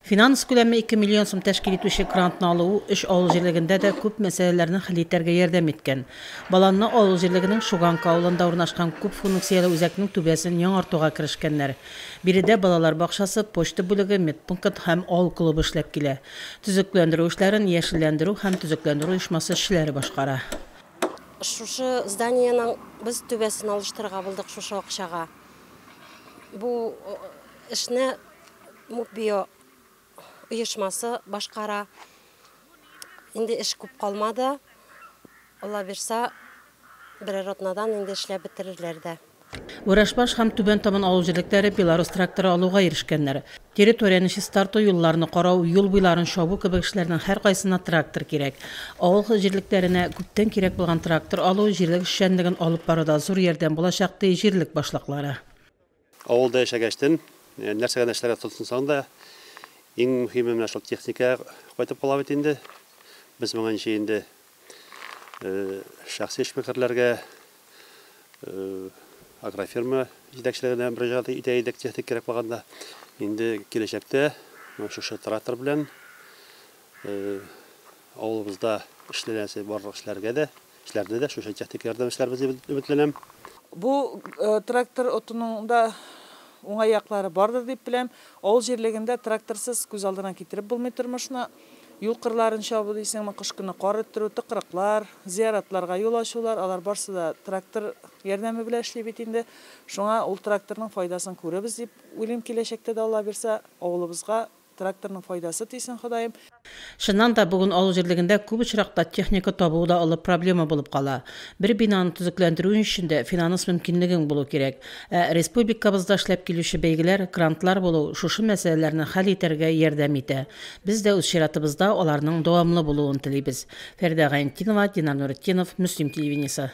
Финанс күләме ике миллион сум тәшкил итүче грантны алуы өч авыл җирлегендә дә күп мәсьәләләрне хәл итәргә ярдәм иткән. Баланны авыл җирлегенең Шуганка авылында урнашкан күп фунукцияле үзәкнең түбәсен яңартуга керешкәннәр. Биредә балалар бакчасы, почта бүлеге, медпункт һәм авыл клубы эшләп килә. Төзекләндерү эшләрен яшелләндерү һәм төзекләндерү оешмасы эшчеләре башкара. Шушы зданиенең без түбәсен алыштырырга булдык шушы акчага. Бу эшне Мукбио оешмасы башкара. Инде эш күп калмады. Алла бирса, берәр атнадан инде эшләп бетерерләр дә. Вырашбаш һәм Түбән Табын авыл җирлекләре Беларусь тракторы алуга ирешкәннәр. Территорияне чистарту, юлларны карау, юл буйларын чабу кебек эшләрнең һәркайсына трактор кирәк. Авыл җирлекләренә күптән кирәк булган трактор алу җирлек эшчәнлеген алып баруда зур ярдәм булачак, ди җирлек башлыклары. Авылда яшәгәч тен, нәрсә генә эшләргә тотынсаң да, иң мөһиме менә шул техника кайтып кала бит инде. Без моңа ничә инде шәхси эшмәкәрләргә, агрофирма җитәкчелегенә мөрәҗәгать итә идек техник кирәк булганда. Инде киләчәктә шушы трактор белән авылыбызда эшләнәсе барлык эшләргә дә Эшләрдә дә шушы техника ярдәм эшләрбез дип өметләнәм. Бу трактор отуның да уңай яклары бардыр дип беләм. Авыл җирлегендә тракторсыз күз алдына китереп булмый тормышны. Юл кырларын чабу дисеңме, кыш көне кар өрттерү, тыкрыклар, зыяратларга юл ачулар, алар барсы да трактор ярдәме белән эшли бит инде. Шуңа ул тракторның файдасын күрербез дип уйлыйм киләчәктә дә, Аллабирса, авылыбызга. Тракторның файдасы тисен Ходаем. Чыннан да, бүген авыл җирлегендә күп очракта техника табу да олы проблема булып кала. Бер бинаны төзекләндерү өчен дә финанс мөмкинлегең булу кирәк. Ә республикабызда эшләп килүче бәйгеләр, грантлар булу шушы мәсьәләләрне хәл итәргә ярдәм итә. Без дә үз чиратыбызда аларның дәвамлы булуын телибез. Фәридә Гайнтдинова, Динар Нуретдинов, Мөслим телевидениесе.